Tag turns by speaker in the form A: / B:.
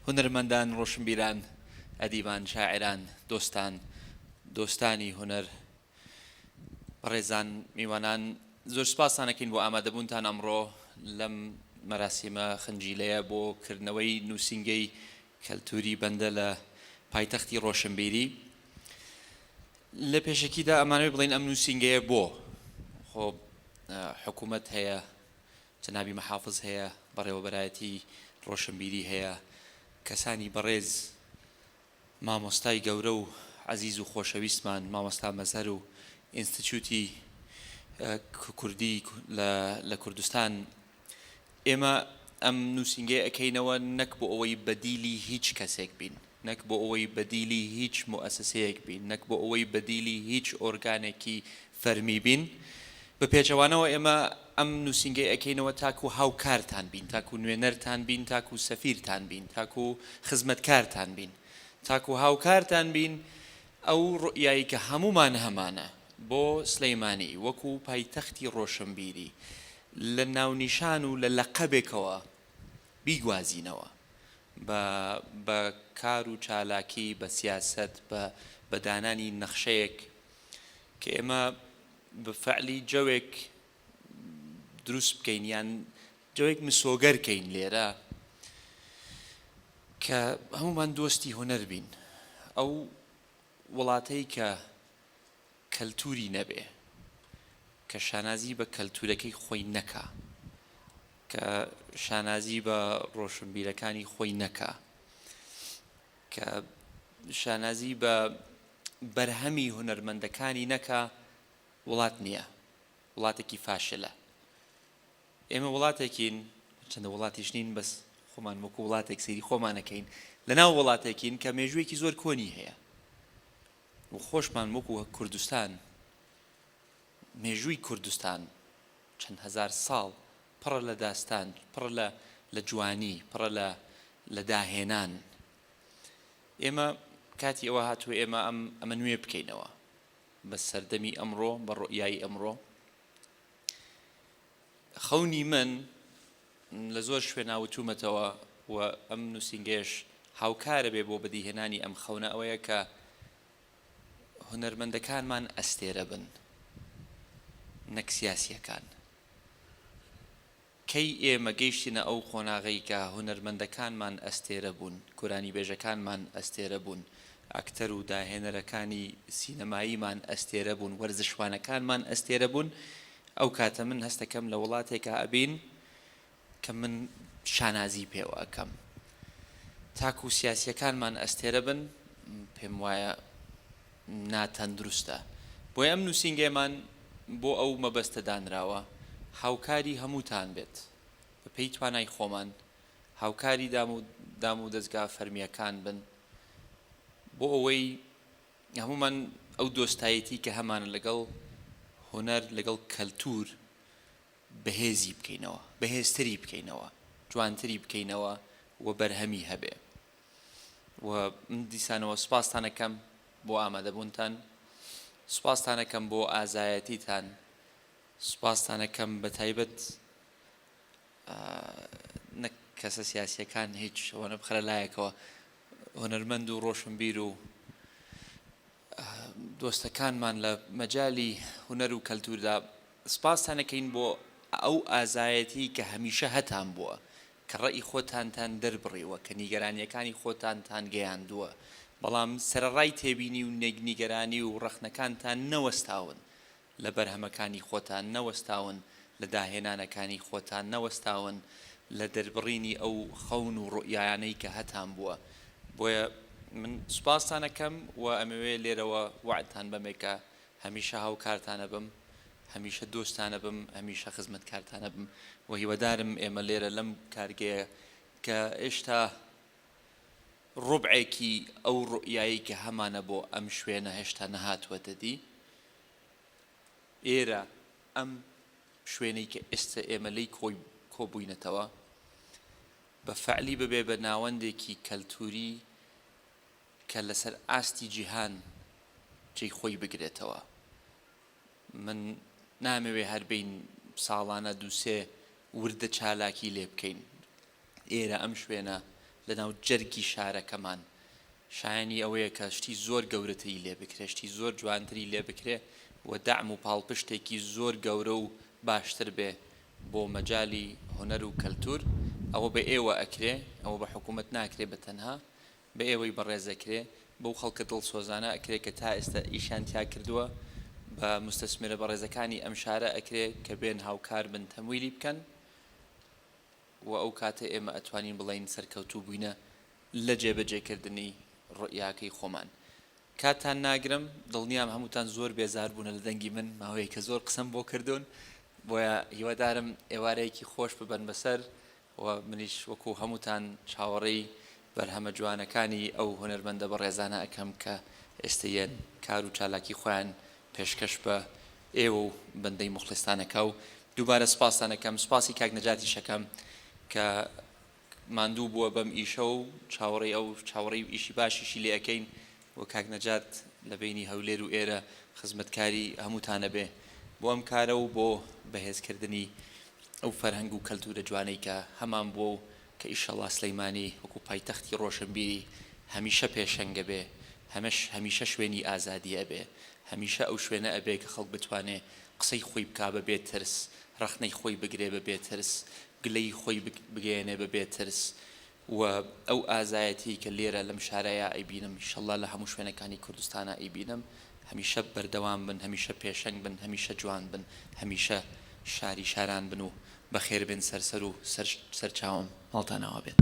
A: هونەرمەندان، ڕۆشنبیران، ئەدیبان، شاعیران، دۆستان، دۆستانی هونەر، بەڕێزان، میوانان، زۆر سوپاستان ئەکەین بۆ ئامادەبوونتان ئەمڕۆ لەم مەراسیمە خنجیلەیە بۆ کردنەوەی نووسینگەی کەلتووری بەندە لە پایتەختی ڕۆشنبیری. لە پێشەکیدا ئەمانەوێ بڵێین ئەم نووسینگەیە بۆ؟ خۆ حکوومەت هەیە، جەنابی محافز هەیە، بەڕێوەبەرایەتی ڕۆشنبیری هەیە، کەسانی بەڕێز مامۆستای گەورە و عەزیز و خۆشەویستمان مامۆستا مەزهەر و ئینستتیوتی کوردی لە کوردستان ئێمە ئەم نووسینگەیە ئەکەینەوە نەک بۆ ئەوەی بەدیلی هیچ کەسێک بین، نەک بۆ ئەوەی بەدیلی هیچ موئەسسەیەک بین، نەک بۆ ئەوەی بەدیلی هیچ ئۆرگانێکی فەرمی بین، بە پێچەوانەوە ئێمە ئەم نووسینگەی ئەکەینەوە تاکو هاوکارتان بین، تاکو نوێنەرتان بین، تاکو سەفیرتان بین، تاکو خزمەتکارتان بین، تاکو هاوکارتان بین، ئەو ڕوئیای کە هەموومان هەمانە بۆ سلیمانی وەکو پایتەختی ڕۆشنبیری لە ناونیشان و لە لەقەبێکەوە بیگوازینەوە بە بە کار و چالاکی، بە سیاسەت، بە بە دانانی نەخشەیەک کە ئێمە بە فەعلی جەوێک دروست بکەین یان جەوێک مسۆگەر کەین لێرە کە هەمومان دۆستی هونەر بین ئەو وڵاتەی کە کەلتوری نەبێ کە شانازی بە کەلتورەکەی خۆی نەکا کە شانازی بە ڕۆشنبیرەکانی خۆی نەکا کە شانازی بە بەرهەمی هونەرمەندەکانی نەکا وڵات نییە وڵاتێکی فاشلە ئێمە وڵاتێکین چەندە وڵاتیش نین بەس خۆمان وەکو وڵاتێک سەیری خۆمانەکەین لەناو وڵاتێکین کە مێژوویەکی زۆر کۆنی هەیە و خۆشمان وەکو کوردستان مێژووی کوردستان چەند هەزار ساڵ پڕە لە داستان پڕە لە لە جوانی پڕە لە لە داهێنان ئێمە کاتی ئەوە هاتووە ئێمە ئەم ئەمە نوێ بکەینەوە بە سەردەمی ئەمڕۆ بە ڕۆیایی ئەمڕۆ خەونی من لە زۆر شوێنا وتوومەتەوە و ئەم نووسینگەیەش هاوکارە بێ بۆ بەدیهێنانی ئەم خەونە ئەوەیە کە هونەرمەندەکانمان ئەستێرە بن نەک سیاسییەکان. کەی ئێمە گەیشتینە ئەو قۆناغەی کە هونەرمەندەکانمان ئەستێرە بوون، گورانیبێژەکانمان ئەستێرە بوون، ئەکتەر و داهێنەرەکانی سینەماییمان ئەستێرە بوون، وەرزشوانەکانمان ئەستێرە بوون، ئەو کاتە من هەستەکەم لە وڵاتێکا ئەبین کە من شانازی پێوە ئەکەم تاکو سیاسیەکانمان ئەستێرە بن پێم وایە ناتەندروستە بۆی ئەم نووسینگەمان بۆ ئەو مەبەستە دانراوە هاوکاری هەمووتان بێت بە پێی توانای خۆمان هاوکاری دام و دام و دەزگا فەرمیەکان بن بۆ ئەوەی هەموومان ئەو دۆستایەتی کە هەمانە لەگەڵ هونەر لەگەڵ کەلتور بەهێزی بکەینەوە بەهێزتری بکەینەوە جوانتری بکەینەوە و بەرهەمی هەبێ و من دیسانەوە سپاستانەکەم بۆ ئامادەبوونتان سپاستانەکەم بۆ ئازایەتیتان سپاستانەکەم بە تایبەت نەک کەسە سیاسیەکان هیچ شەوەنە بخرە لایەکەوە هونەرمەند و ڕۆشنبیر و دۆستەکانمان لە مەجای هونەر و کەلتوردا سپاستانەکەین بۆ ئەو ئازایەتی کە هەمیشە هەتان بووە کە ڕێی خۆتانتان دەربڕیوە کە نیگەرانیەکانی خۆتانتان گەیاندووە بەڵام سەرەڕای تێبینی و نێگنیگەرانی و ڕەخنەکانتان نەوەستاون لە بەرهەمەکانی خۆتان نەوەستاون، لە داهێنانەکانی خۆتان نەوەستاون، لە دەربڕینی ئەو خەون و ڕوئیایانەی کە هەتان بووە. بۆیە من سوپاستان ئەکەم و ئەمەوێ لێرەوە وەعدتان بەمێ کە هەمیشە هاوکارتان ئەبم، هەمیشە دۆستتان ئەبم، هەمیشە خزمەتکارتان ئەبم و هیوادارم ئێمە لێرە لەم کارگەیە کە ئێشتا ڕوبعێکی ئەو ڕوئیایەی کە هەمانە بۆ ئەم شوێنە هێشتا نەهاتووەتە دی، ئێرە، ئەم شوێنەی کە ئێستە ئێمە لێی کۆی کۆبووینەتەوە، بە فەعلی ببێ بە ناوەندێکی کەلتووری کە لەسەر ئاستی جیهان جێی خۆی بگرێتەوە. من نامەوێ هەر بین ساڵانە دووسێ وردە چالاکی لێ بکەین. ئێرە ئەم شوێنە لە ناو جەرگی شارەکەمان شایەنی ئەوەیە کە شتی زۆر گەورەتری لێ بکرێ شتی زۆر جوانتری لێ بکرێ و دەعم و پاڵپشتێکی زۆر گەورە و باشتر بێ بۆ مەجالی هونەر و کەلتور ئەوە بە ئێوە ئەکرێ ئەوە بە حکومەت ناکرێ بە تەنها بە ئێوەی بەڕێز ئەکرێ بەو خەڵکە دڵسۆزانە ئەکرێ کە تا ئێستا ئیشیان تیا کردوە بە موستەسمرە بەڕێزەکانی ئەم شارە ئەکرێ کە بێن هاوکار بن تەمویلی بکەن. وە ئەو کاتە ئێمە ئەتوانین بڵێین سەرکەوتوو بووینە لە جێبەجێ کردنی ڕوئیاکەی خۆمان کاتتان ناگرم دڵنیام هەمووتان زۆر بێزار بوونە لە دەنگی من ماوەیەکە زۆر قسەم بۆ کردوون بۆیە هیوادارم ئێوارەیەکی خۆش ببەن بەسەر وە منیش وەکو هەمووتان چاوەڕێی بەرهەمە جوانەکانی ئەو هونەرمەندە بەڕێزانە ئەکەم کە ئێستە یەن کار و چالاکی خۆیان پێشکەش بە ئێوە و بەندەی موخڵیستان ئەکا و دووبارە سپاستان ئەکەم سپاسی کاک نەجاتیش ئەکەم کە ماندوو بووە بەم ئیشە و چاوەڕێی ئەو چاوەڕێی ئیشی باشیشی لێ ئەکەین و کاک نەجات لە بەینی هەولێر و ئێرە خزمەتکاری هەمووتان ئەبێ بۆ ئەم کارە و بۆ بەهێزکردنی ئەو فەرهەنگ و کەلتوورە جوانەی کە هەمان بووە و کە ئیشەڵا سلیمانی وەکو پایتەختی ڕۆشنبیری هەمیشە پێشەنگە بێ هەمەش هەمیشە شوێنی ئازادی ئەبێ هەمیشە ئەو شوێنە ئەبێ کە خەڵک بتوانێ قسەی خۆی بکا بە بێ ترس ڕەخنەی خۆی بگرێ بە بێ ترس گلەی خۆی بگەیەنێ بە بێ ترس و ئەو ئازایەتی کە لێرە لەم شارەیا ئەیبینم ئیشەڵا لە هەموو شوێنەکانی کوردستانا ئەیبینم هەمیشە بەردەوام بن هەمیشە پێشەنگ بن هەمیشە جوان بن هەمیشە شاری شاران بن و بەخێربێن سەر سەر و سەر سەرچاوم ماڵتان ئاوا بێت.